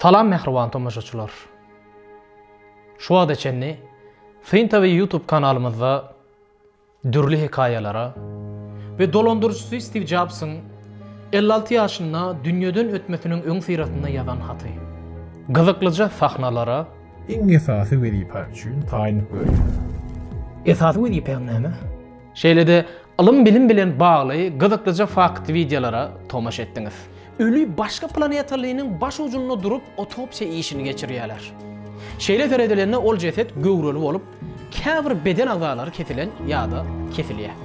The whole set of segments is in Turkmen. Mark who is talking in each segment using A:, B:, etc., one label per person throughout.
A: Salam mähriban tomaşaçylar! Şu wagta çenli Syn TV YouTube kanalymyzda dürli hekaýalara we dolandyryjysy Stiw Jobsyň elli alty ýaşynda dünýeden ötmesiniň öňüsyrasynda ýazan haty, gyzyklyja sahnalara, Iň esasy
B: wezipe üçin taýyn görýär. Esasy
A: wezipäň näme? Şeýle-de ylym-bilim bilen bagly gyzyklyja fakt wideolara tomaşa etdiňiz. Öli başga planetalynyň baş ujunda durup otopsiýa işini geçirýärler. Şeýle seredilende ol jeset göwreli bolup, käbir beden agzalary kesilen ýa-da kesilýär.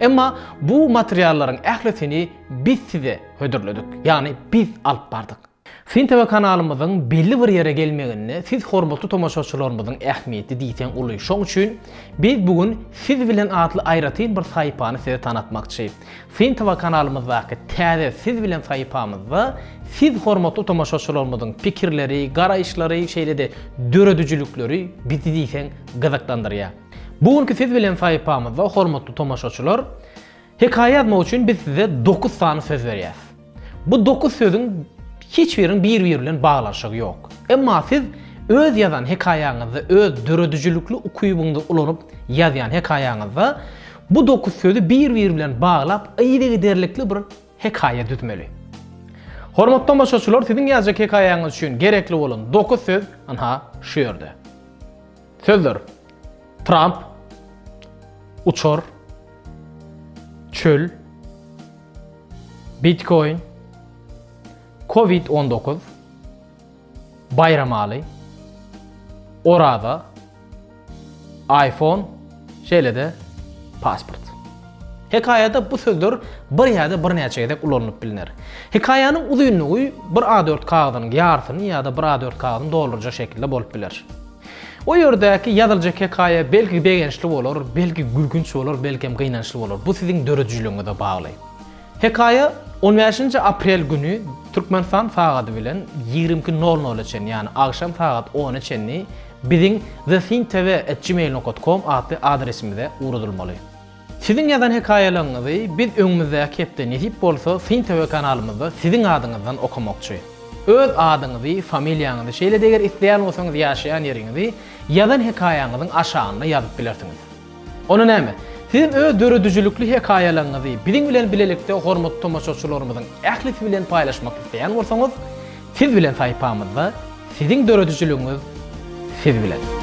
A: Emma bu materiallaryň ählisini biz size hödürledik, ýagny biz alyp bardyk. Syn TV kanalymyzyň belli bir ýere gelmeginde siz hormatly tomaşaçylarymyzyň ähmiýeti diýseň uly. Şoň üçin biz bu gün siz bilen atly aýratyn bir saýpany size tanatmakçy. Syntowa kanalymyzdaky täze Siz bilen sahypamyzda siz hormatly tomaşaçylarymyzyň pikirleri, garaýyşlary, şeýle-de döredijilikleri bizi diýseň gyzyklandyrýar. Bu günki Siz bilen sahypamyzda hormatly tomaşaçylar, hekaýa ýazmak üçin biz size dokuz sany söz berýäs. Bu dokuz sözüň hiç biriniň bir-biri bilen baglanyşygy ýok. Emma siz öz ýazan hekaýaňyzda, öz döredijilikli ukybyňyzy ulanyp ýazýan hekaýaňyzda bu dokuz sözi bir-biri bilen baglap yzygiderlikli bir hekaýa düzmeli. Hormatly tomaşaçylar, siziň ýazjak hekaýaňyz üçin gerekli bolan dokuz söz ynha şu ýerde. Sözler, Tramp, uçar, çöl, bitkoin, covid on dokuz, baýramaly, oraza, iPhone, Şeýle-de, pasport. Hekaýada bu sözler bir ýa-da birnäçe gezek ulanylyp bilner. Hekaýanyň uzynlygy bir A-dört kagyzynyň ýarysyny ýa-da bir A-dört kagyzyny doldurjak şekilde bolup biler. O ýerdäki ýazyljak hekaýa belki begençli bolar, belki gülkünç bolar, belkem gynançly bolar. Bu siziň döredijiligiňize bagly. Hekaýa on bäşinji aprel güni Türkmenistan sagady bilen ýigrimi iki nol nola çenli, ýagny agşam sagat ona çenli biziň thesintv at gmail nokta com atly adresimize ugradylmaly. Siziň ýazan hekaýalaryňyzy biz öňümizdäki hepde nesip bolsa thintv kanalymyzda siziň adyňyzdan okamakçy. Öz adyňyzy, familiýaňyzy, şeýle-de eger isleýän bolsaňyz ýaşaýan ýeriňizi ýazan hekaýaňyzyň aşagynda ýazyp bilersiňiz. Onda näme? Sizem öz döredijilikli hekaýalaryňyzy biziň bilen bilelikde hormatly tomaşaçylarymyzyň ählisi bilen paýlaşmak isleýän bolsaňyz, Siz bilen saýpamyzda Siziň döredijiligiňiz siz bilen!